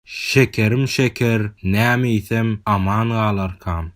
Şekerim şeker näme iýsem aman galarkam?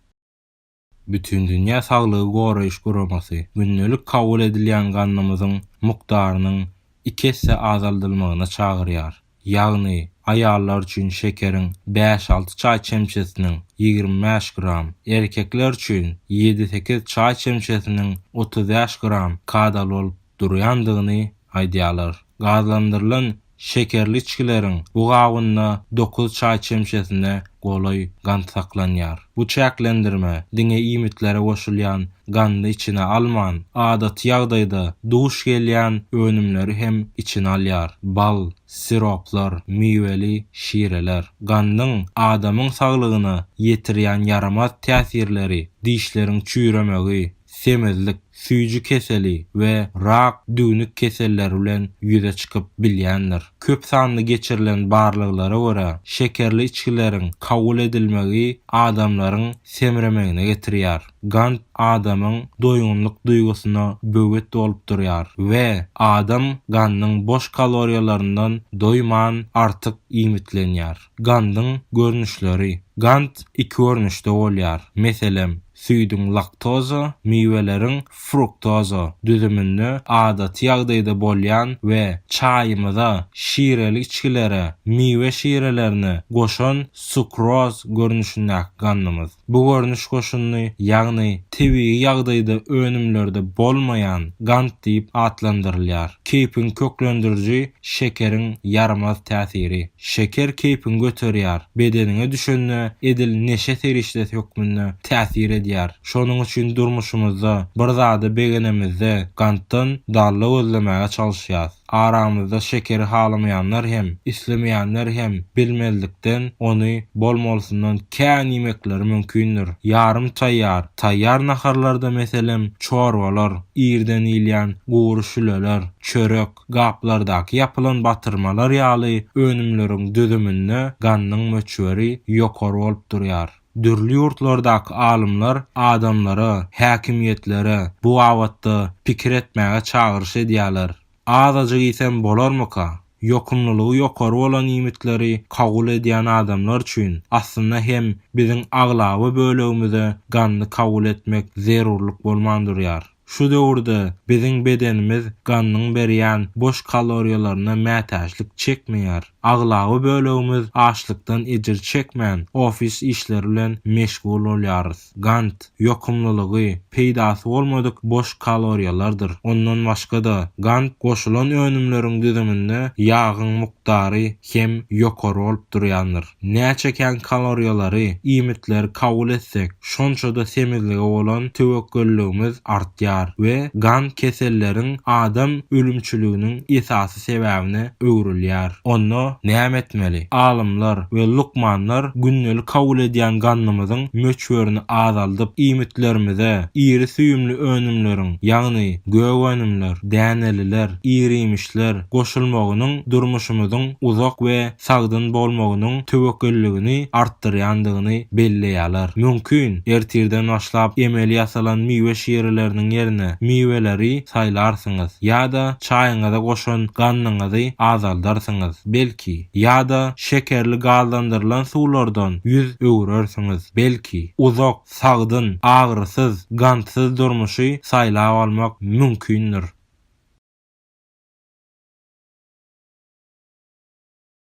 Bütindünýä saglygy goraýyş guramasy gündelik kabul edilýän gandymyzyň mukdarynyň iki esse azaldylmagyna çagyrýar. Ýagny, aýallar üçin şekeriň bäş-alty çaý çemçesiniň, ýigrimi bäş gram, erkekler üçin ýedi-sekiz çaý çemçesiniň, otuz bäş gram, kadaly bolup durýandygyny aýdýarlar. Gazlandyrylan şekerli içgileriň bu gabynda dokuz çaý çemçesine golaý gant saklanýar. Bu çäklendirme diňe iýmitlere goşulýan gandy içine alman, adaty ýagdaýda duş gelýän önümleri hem içine alýar, bal, siroplar, miweli şireler. Gandyň adamyň saglygyna ýetirýän ýaramaz täsirleri, dişleriň çüýremegi, semizlik, süýji keseli we rak, düwnük keselleri bilen ýüze çykyp bilýändir. Köp sanly geçirilen barlaglara görä, şekerli içgileriň kabul edilmegi adamlaryň semremegine getirýär. Gant adamyň doýgunlyk duýgusyna böwet bolup durýar we adam gandyň boş kaloriýalaryndan doýman artyk iýmitlenýär. Gandyň görnüşleri. Gant iki görnüşde bolýar. Meselem, Süýdüň laktoza, miweleriň fruktoza düzüminde adaty ýagdaýda bolýan we çaýymyza, şireli içgilere, miwe şirelerine goşan sukroz görnüşindäki gandymyz. Bu görnüş goşunyny, ýagny tebigy ýagdaýda önümlerde bolmaýan gant diýip atlandyrylýar. Keýpiň köklendiriji şekeriň ýaramaz täsiri. Şeker keýpiňi göterýär, bedeniňe düşende edil neşe serişdesi hökmünde täsir edýär. Şonuň üçin durmuşymyzda bir zady begenemizde gantdan dalla gözlemäge çalyşýas. Aramyzda şekeri halamaýanlar hem, islemeýänler hem bilmezlikden ony bol-molsundan kän iýmekleri mümkindir. Ýarym taýýar, taýýar naharlarda meselem çorbalar, irden iýilýän gury şüleler, çörek, Gaplardaky ýapylan batyrmalar ýaly önümleriň düzüminde gannyň möçberi ýokary bolup durýar. Dürli ýurtlardaky alymlar adamlara, häkimiýetlere bu babatda pikir etmäge çagyryş edýärler. Azajyk iýsem bolarmyka? Ýokumlylygy ýokary bolan iýmitleri kabul edýän adamlar üçin, aslynda hem biziň aglaba bölegimize ganny kabul etmek zerurlyk bolman durýar. Şu döwürde biziň bedenimiz ganyň berýän boş kaloriýalaryna mätäçlik çekmeýär. Aglaba bölegimiz açlykdan ejir çekmän, ofis işleri bilen meşgul bolýarys. Gant, ýokumlylygy, peýdasy bolmadyk boş kaloriýalardyr. Ondan başga-da, gant goşulan önümleriň düzüminde ýagyň mukdary hem ýokary bolup durýandyr. Näçe kän kaloriýalary, iýmitleri kabul etsek, şonça-da semizlige bolan töwekgelligimiz artýar we gan keselleriň adam ölümçiliginiň esasy sebäbine öwrülýär. Onda näme etmeli? Alymlar we lukmanlar gündelik kabul edýän gandymyzyň möçberini azaldyp, iýmitlerimize iri süýümli önümleriň, ýagny gök önümler, däneliler, iriýmişler goşulmagynyň durmuşymyzyň uzak we sagdyn bolmagynyň töwekgelligini artdyrýandygyny belleýärler. Mümkin, ertirden başlap emeli ýasalan miwe şireleriniň ýerine miweleri saýlarsyňyz ýa-da çaýyňyza goşan gannyňyzy azaldarsyňyz, belki, ýa-da şekerli gazlandyrylan suwlardan ýüz öwürersiňiz, belki, uzak, sagdyn, agyrysyz, gantsyz durmuşy saýlap almak mümkindir.